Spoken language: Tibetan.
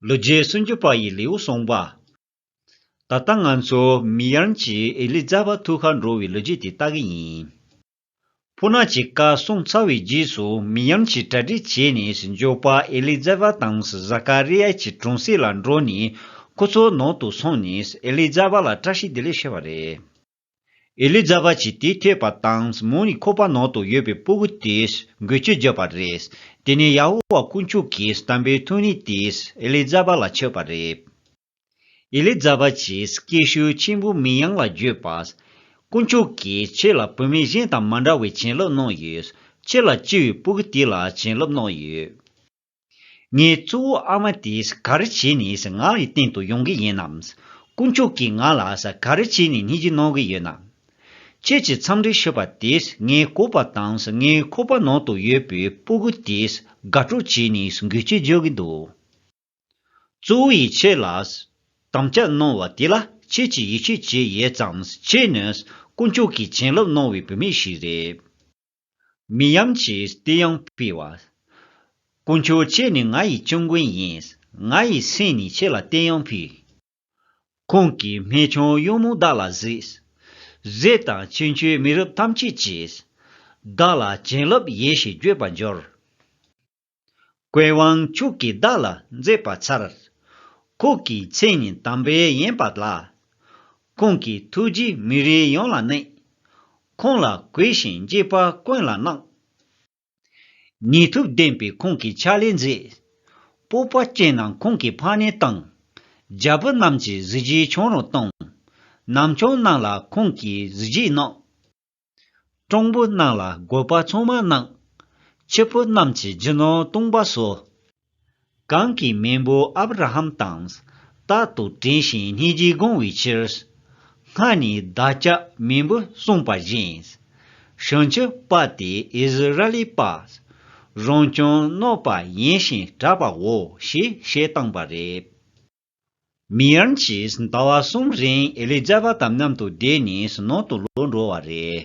ལོ་རྒྱས་སུམ་ཅུ་པ་ཡི་ལེའུ་གསུངས་པ། ད་ལྟ་ང་ཚོ་མི་ཡར་གྱིས་ཨེ་ལི་ཛ་བ་ཐུགས་ཁར་འགྲོ་བའི་ལོ་རྒྱས་དེ་ལྟ་གི་ཡིན། ཕུ་ནག་གི་བཀའ་གསུང་ཚར་བའི་རྗེས་སུ་མི་ཡར་གྱིས་གྲ་སྒྲིག་བྱས་ནས་ཟིན་འཇོག་པ་ཨེ་ལི་ཛ་བ་དང་ཟ་ཀ་རི་ཡཱ་གྱི་གྲོང་གསེབ་ལ་འགྲོ་ནས་ཁོ་ཚོའི་ནང་དུ་སོང་ནས་ཨེ་ལི་ཛ་བ་ལ་བཀྲ་ཤིས་བདེ་ལེགས་ཞུ་བ་རེད། ཨེ་ལི་ཛ་བྷ་ཆིས་དེ་ཐོས་པ་དང་མོ་ནི་ཁོ་པ་ནང་དུ་ཡོད་པའི་སྤོ་བོ་དེས་འགུལ་སྐྱོད་བརྒྱབ་པ་རེད། དེ་ནས་ཡ་ཧོ་བ་དཀོན་མཆོག་གིས་དམ་པའི་ཐུགས་ནུས་དེས་ཨེ་ལི་ཛ་བྷ་ལ་མཆོད་པ་རེད། ཨེ་ལི་ཛ་བྷ་ཆིས་སྐད་ཤུགས་ཆེན་པོས་མི་ཡང་ལ་བརྗོད་པ། དཀོན་མཆོག་གིས་ཁྱེད་ལ་བུད་མེད་གཞན་དང་མ་འདྲ་བའི་བྱིན་རླབས་གནང་ཡོད། ཁྱེད་ལ་སྐྱེས་བུའི་སྤོ་བོ་དེ་ལ་བྱིན་རླབས་གནང་ཡོད། ངའི་གཙོ་བོ་ཨ་མ་དེས་ག་རེ་བྱས་ནས་ང་ལ་བསྟན་དུ་ཡོང་གི་ཡིན་ནམ། དཀོན་མཆོག་གིས་ང་ལ་ག་རེ་བྱས་ནས་སྙིང་རྗེ་གནང་གི་ཡོད་ནམ། ཁྱེད་ཀྱི་འཚམས་འདྲི་ཞུས་པ་དེས་ངའི་ཀོ་པ་དང་ངའི་ཁོག་པ་ནང་དུ་ཡོད་པའི་སྤུ་གུ་དེས་དགའ་སྤྲོ་བྱས་ནས་འགུལ་སྐྱོད་རྒྱག་གི་འདུག་གཙོ་བོ་ཡིས་ཁྱེད་ལ་དམ་བཅའ་གནང་བ་དེ་ལ་ཁྱེད་ཀྱིས་ཡིད་ཆེས་བྱེད་ཡོད་ཙང་ཁྱེད་ནི་དཀོན་མཆོག་གིས་བྱིན་རླབས་གནང་བའི་བུད་མེད་ཞིག་རེད། མི་ཡམས་ཀྱི་ལྟས་ཡང་སྤེལ་བ། དཀོན་མཆོག་ཁྱེད་ནི་ང་ཡི་སྐྱབས་མགོན་ཡིན། ང་ཡི་སེམས་ནི་ཁྱེད་ལ་ལྟས་ཡང་ཕུལ། ཁོང་གིས་སྨན་ཆུང་གཡུང་མོ་བདག་ལ་གཟིགས། རྫས་དང་ཕྱི་མཆོད་མི་རབས་ཐམས་ཅད་ཀྱིས། བདག་ལ་བྱིན་རླབས་ཡེ་ཤེས་བརྗོད་པར་འགྱུར། ཀོའི་དབང་ཕྱུག་གིས་བདག་ལ་མཛད་པ་མཚར། ཁོག་གི་མཚན་ཉིད་དམ་པའི་ཡན་པ་ལ། ཁོང་གི་ཐུགས་རྗེ་མི་རིགས་ཡོངས་ལ་གནས། ཁོང་ལ་གུས་ཤིང་དགྱེས་པ་ཀུན་ལ་གནང། ནུས་མཐུ་ལྡན་པའི་ཁོང་གི་ཕྱག་ལས་མཛད། སྤོབས་པ་སྐྱེས་རྣམས་ཁོང་གི་ཕ་ནས་བཏང། རྒྱལ་བུ་རྣམས་ཀྱི་གཟི་བརྗིད་ཆོང་རུང་གཏོང། ནམ་ཆུང་རྣམས་ལ་ཁོང་གིས་གཟི་བརྗིད་གནང། སྤྲང་པོ་རྣམས་ལ་རྒོད་པ་ཚང་མ་གནང། ཁྱི་ཕོ་རྣམས་ཀྱི་རྒྱུ་ནོར་བཏུང་བ་སོགས། གང་གི་མེས་པོ་ཨབ་ར་ཧམ་དང། རྟག་ཏུ་བྲན་ཞིང་སྙིང་རྗེས་དགོངས་བའི་ཕྱིར། སྔར་ནས་བདག་ཅག་མེས་པོས་གསུངས་པ་བཞིན། བྱང་ཆུབ་དཔའ་དེ་ཨིསི་རཱཨེལི་པ། རང་བྱུང་གནོད་པ་ཡིན་ཞིང་དྲག་པའོ་ཞེས་བཤད་བཏང་བ་རེད། མི་ཡཱན་གྱིས་ཟླ་བ་གསུམ་རིང་ཨེ་ལི་ཛཱ་བ་དང་མཉམ་དུ་བསྡད་ནས་ཟི་ནོག་ཏུ་ལོག་འགྲོ་བ་རེད།